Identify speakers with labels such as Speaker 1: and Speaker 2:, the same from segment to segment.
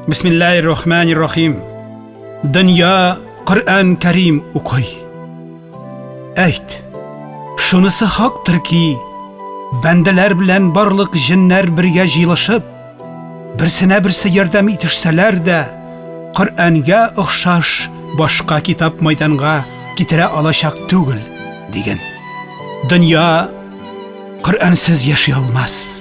Speaker 1: Бисмиллаһир рахманир рахим. Дөнья Коръән Кәрим укый. Әйт. Шунысы хактыр ки, бәндәләр белән барлык җеннәр бергә җыелышып, берсенә берсе ярдәм итешсәләр дә, Коръәнгә охшаш башка китап майданга китерә алачак түгел, диген. Дөнья Коръәнсез яши алмас.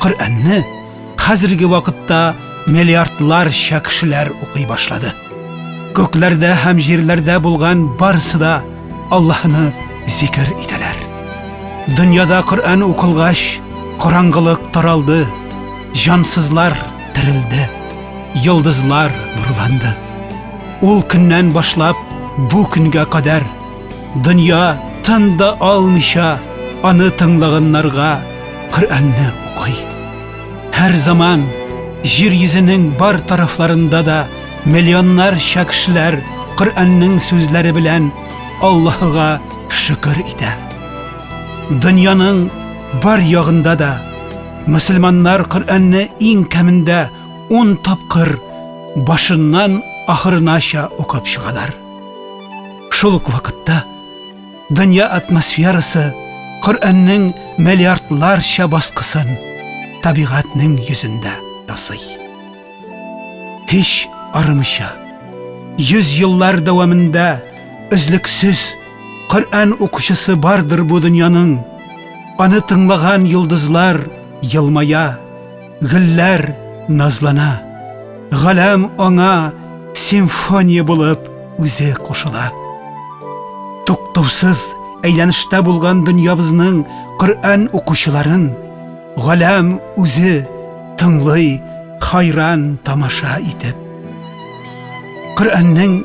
Speaker 1: Коръәнне хәзерге вакытта миллиардларча кешеләр укый башлады. Күкләрдә һәм җирләрдә булган барысы да Аллаһны зикер итәләр. Дөньяда Коръән укылгач, караңгылык таралды, җансызлар терелде, йолдызлар нурланды. Ул көннән башлап бу көнгә кадәр Дөнья тын да алмыйча аны тыңлаганнарга Коръәнне укый. Һәр заман җир йөзенең бар тарафларында да миллионнарча кешеләр Коръәннең сүзләре белән Аллаһыга шөкер итә. Дөньяның бар ягында да мөселманнар Коръәнне иң кәмендә 10 тапкыр башыннан ахырынача укып чыгалар. Шул ук вакытта дөнья атмосферасы Коръәннең миллиардларча баскысын табигатьнең йөзендә ясый. Һич арымыйча, йөз еллар дәвамында өзлексез Коръән укучысы бардыр бу дөньяның. Аны тыңлаган йолдызлар елмая, Гөлләр назлана, галәм аңа симфония булып үзе кушыла. Туктаусыз әйләнештә булган дөньябызның Коръән укучыларын галәм үзе тыңлый, хайран тамаша итеп. Коръәннең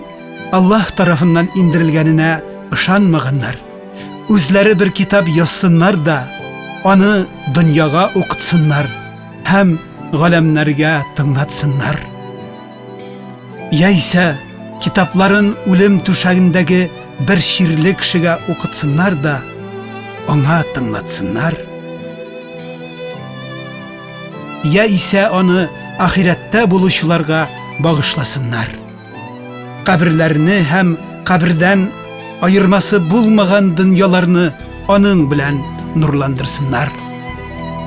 Speaker 1: Аллаһ тарафыннан индерелгәненә ышанмаганнар. үзләре бер китап язсыннар да, аны дөньяга укытсыннар һәм галәмнәргә тыңлатсыннар. Яисә китапларын үлем түшәгендәге бер чирле кешегә укытсыннар да, аңа тыңлатсыннар. Яисә аны ахирәттә булучыларга багышласыннар. Каберләрне һәм кабердән аермасы булмаган дөньяларны аның белән нурландырсыннар.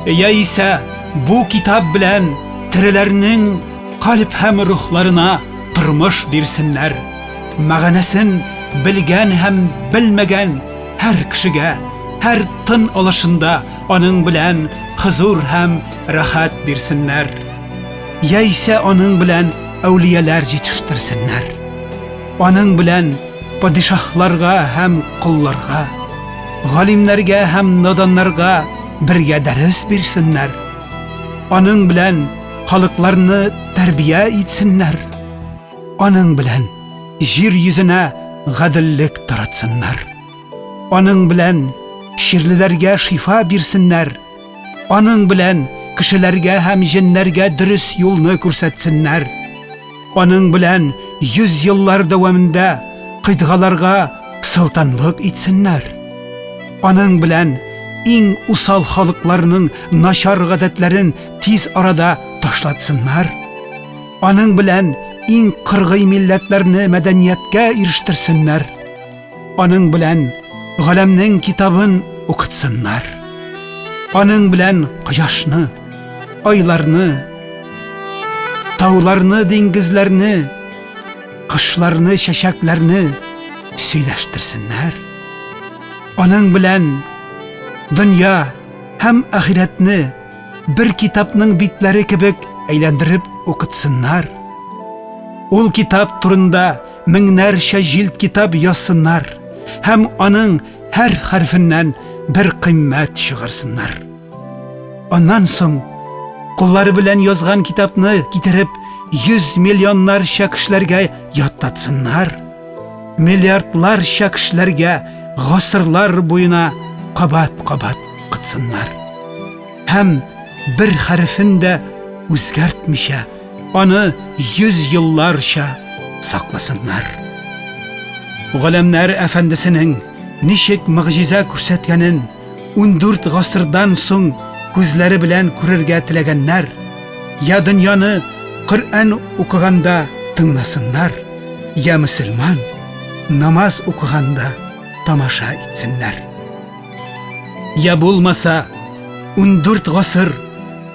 Speaker 1: Яисә бу китап белән тереләрнең калп һәм рухларына тормыш бирсеннәр. Мәгънәсен белгән һәм белмәгән һәр кешегә, һәр тын алышында аның белән хозур һәм рәхәт бирсеннәр. яисә аның белән әүлияләр җитештерсеннәр. Аның белән падишаһларга һәм колларга, галимнәргә һәм наданнарга бергә дәрес бирсеннәр. Аның белән халыкларны тәрбия итсеннәр. Аның белән җир йөзенә гаделлек таратсыннар. Аның белән чирлеләргә шифа бирсеннәр. Аның белән кешеләргә һәм җеннәргә дөрес юлны күрсәтсеннәр. Аның белән йөз еллар дәвамында кыйтгаларга солтанлык итсеннәр. Аның белән иң усал халыкларның начар гадәтләрен тиз арада ташлатсыннар. Аның белән иң кыргый милләтләрне мәдәнияткә ирештерсеннәр. Аның белән галәмнең китабын укытсыннар. Аның белән кояшны, айларны, тауларны, диңгезләрне, кышларны, чәчәкләрне сөйләштерсеннәр. Аның белән дөнья һәм ахирәтне бер китапның битләре кебек әйләндереп укытсыннар. Ул китап турында меңнәрчә җилд китап язсыннар һәм аның һәр хәрфеннән бер кыйммәт чыгарсыннар. Аннан соң куллары белән язган китапны китереп 100 миллионнарча кешеләргә яттатсыннар. Миллиардларча кешеләргә гасырлар буена кабат-кабат кытсыннар. Һәм бер хәрефен дә үзгәртмичә Аны йөз елларча сакласыннар. Галәмнәр әфәндесенең ничек мөгъҗиза күрсәткәнен 14 гасырдан соң күзләре белән күрергә теләгәннәр, я дөньяны Коръән укыганда тыңласыннар, я мөселман намаз укыганда тамаша итсеннәр. Я булмаса, 14 гасыр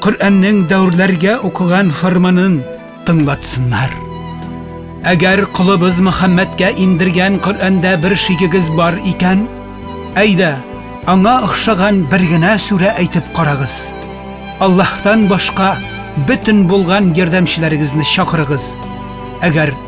Speaker 1: Коръәннең дәүрләргә укыган фарманын тыңлатсыннар. Әгәр колыбыз Мөхәммәдкә индергән Коръәндә бер шигегез бар икән, әйдә, аңа охшаган бер генә сүрә әйтеп карагыз. Аллаһтан башка бөтен булган ярдәмчеләрегезне чакырыгыз. Әгәр